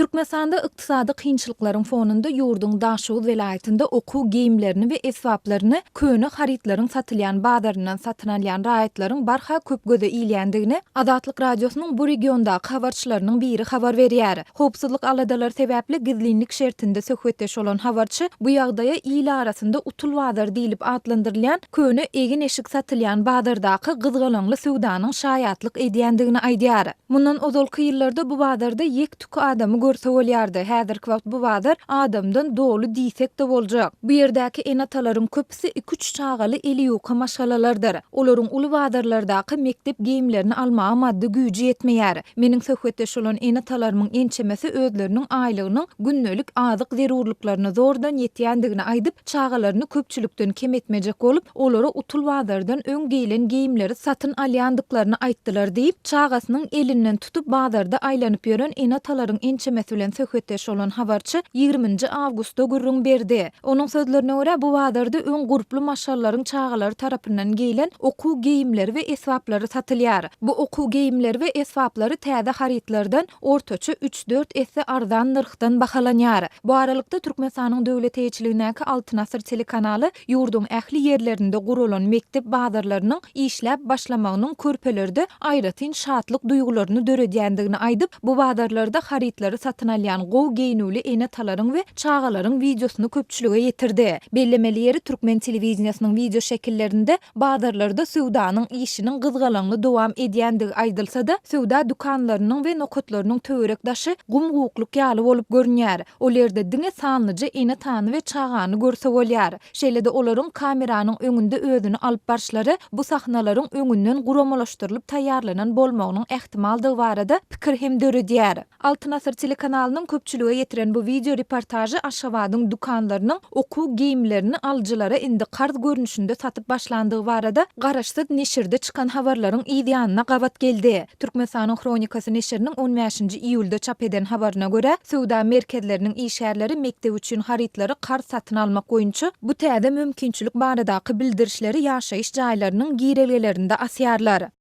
Türkmenistanda ykdysady kynçylyklaryň fonunda ýurduň Daşoguz welaýatynda okuw geýimlerini we esbaplaryny köne harytlaryň satylýan bazaryndan satyn alýan raýatlaryň barha köp göze ilýändigini Azatlyk Radiosynyň bu regiondaky habarçylarynyň biri habar berýär. Howpsuzlyk aladalary sebäpli gizlinlik şertinde söhbetdeş bolan habarçy bu ýagdaýa il arasynda Utul bazary diýlip atlandyrylýan köne egin-eşik satylýan bazardaky gyzgalaňly söwdanyň şaýatlyk edýändigini aýdýar. Mundan ozalky ýyllarda bu bazarda ýek-tük adamy görse bolýardy, häzirki wagt bu bazar adamdan doly diýsek-de boljak. Bu ýerdäki ene-atalaryň köpüsi iki-üç çagaly eliýuka maşgalalardyr. Olaryň uly bazarlardaky mekdep geýimlerini almaga maddy güýji ýetmeýär. Meniň söhbetdeş bolan ene-atalarymyň ençemesi özleriniň aýlygynyň gündelik azyk zerurlyklaryna zordan ýetýändigini aýdyp, Çagalaryny köpçülikden kem etmejek bolup, olara utul bazardan öň geýlen geýimleri satyn alýandyklaryny aýtdylar diýip, çagasynyň elinden tutup bazarda aýlanyp ýören ene-atalaryň ençemesi bilen söhbetdeş bolan habarçy ýigrimi nji awgustda gürrüň berdi. Onuň sözlerine görä, bu bazarda öň gurply maşgallaryň çagalary tarapyndan geýlen okuw geýimleri we esbaplary satylýar. Bu okuw geýimleri we esbaplary täze harytlardan ortaça üç. dört esse arzan nyrhdan bahalanýar. Bu aralykda, Türkmenistanyň döwlet eýeçiligindäki Altyn asyr telekanaly ýurduň ähli ýerlerinde guralan mekdep bazarlarynyň işläp başlamagynyň körpelerde aýratyn şatlyk duýgularyny döredýändigini aýdyp, bu bazarlarda harytlary satyn alýan gowy geýnüwli ene-atalaryň we çagalaryň wideosyny köpçülige ýetirdi. Bellemeli ýeri, türkmen telewideniýesiniň wideoşekillerinde Bazarlarda söwdanyň işiniň gyzgalaňly dowam edýändigi aýdylsa-da, söwda dükanlarynyň we nokatlarynyň töwerek-daşy gum-gukluk ýaly bolup görünýär. Ol ýerde diňe sanlyja ene-tany we çagany görse bolýar. Şeýle-de olaryň kameranyň öňünde özüni alyp barşlary bu sahnalaryň öňünden guramalaşdyrylyp taýýarlanan bolmagynyň ähtimaldygy barada pikir hem döredýär. Altyn asyr telekanalynyň köpçülige ýetiren bu wideo reportažy Aşgabadyň dükanlarynyň okuw geýimlerini alyjylara indi karz görnüşinde satyp başlandygy barada garaşsyz neşirde çykan habarlaryň yz ýanyna gabat geldi. Türkmenistanyň Hronikasy neşiriniň on bäşinji iýulda çap eden habaryna görä, söwda merkezleriniň işgärleri mekdep üçin harytlary karz satyn almak boýunça bu täze mümkinçilik baradaky bildirişleri ýaşaýyş jaýlarynyň girelgelerinde asýarlar.